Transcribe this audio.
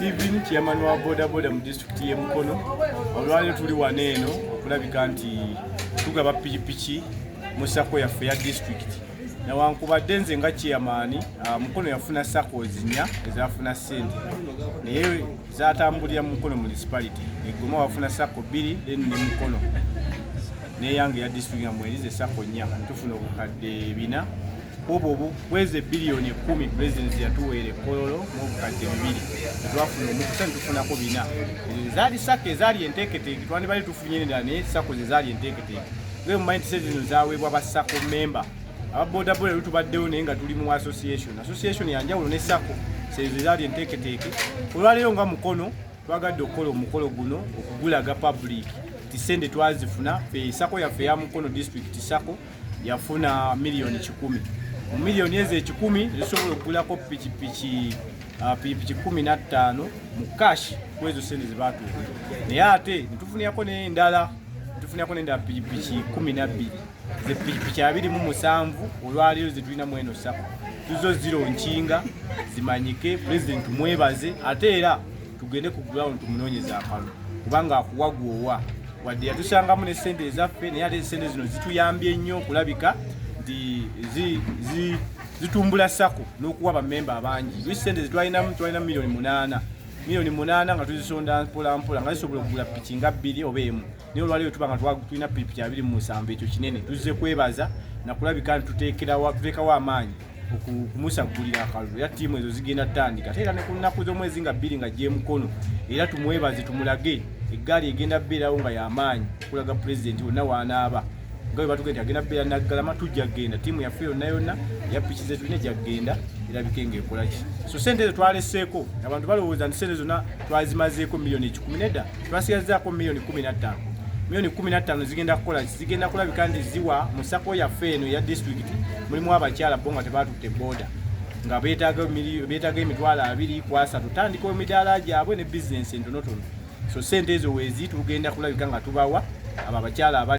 Steven chairman wa bodaboda mu disitulikiti y'e Mukono olwaleero tuli wano eno okulabika nti tugaba pikipiki mu sako yaffe ya disitulikiti newankubadde nze nga chairman ah, Mukono yafuna sako zinya ezafuna ssente naye zatambulira mu Mukono municipality egoma wafuna sako bbiri then ne Mukono neyange ya disitulikiti nga mwerize sako nnya tufuna obukadde bina obwo bwezi ebiliyoni ekumi presidents yatuweera ekololo mubukadde bibiri etwafuna omukisa netufunako bina ezaali sako ezaali enteeketeeke twandibali tufunye nedala naye sako zezaali enteeketeeke ge mumanyi nti sezino zaweebwa ba sako memba aba bodaboda lu tubaddewo naye nga tuli mu association association yanjawulo ne sako sezo ezaali enteeketeeke olwaleero nga mukono twagadde okukola omukolo guno okugulaga public nti sente twazifuna fe sako yaffe ya mukono district sako yafuna miliyoni kikumi mu miliyoni ezo ekikumi zisobola okugulako pikipiki ah, pikipiki kumi na ttaano mu kashi kwezo sente zebatuuka naye ate netufunirako nendala netufunirako nendala pikipiki kumi nabbiri zepikipiki abiri mu musanvu olwaleero zetulina mu eno sako tuzo ziro nkinga zimanyike pulezidenti mwebaze ate era tugende ku ground tumunoonyeze akalulu kubanga akuwa gwowa wadde yatusangamu ne sente ezaffe naye ate esente zino zituyambye nnyo okulabika nti zitumbula sako n'okuwa bamemba abangi wi sente zetwalinamu twalina miliyoni munaana miliyoni munaana nga tuzisonda mpolampola nga zisobola okugula piki nga bbiri oba emu naye olwaleero tuba nga tulina pikipiki abiri mu musanvu ekyo kinene tuzze kwebaza nakulabika nti tuteekerawa tuteekawo amaanyi okumusagulira akalulu era ttiimu ezo zigenda tutandika ate era ne ku nnaku z'omwezi nga bbiri nga gyemukono era tumwebaze tumulage eggaali egenda beerawo nga yamaanyi okulaga pulezidenti wonna waanaaba nga bwe batuge nti agenda beera naggalama tujja kgenda ttiimu yaffe yonna yonna eya piki ze tulina ejja kgenda erabike nga ekolaki so sente ezo twaleseeko abantu balowooza nti sente zonna twazimazeeko miliyoni ekikumi nedda Twasigazzaako miliyoni kumi na ttaano miliyoni kumi na ttaano zigenda kukola zigenda kulabika nti ziwa mu sako yaffe eno eya disitulikiti mulimu abakyala bo nga tebaatutte booda nga beetaaga emitwalo abiri ku asatu tandika emidaala gyabwe ne bizinensi entonotono so sente ezo weezi tugenda kulabika nga tubawa abo abakyala aba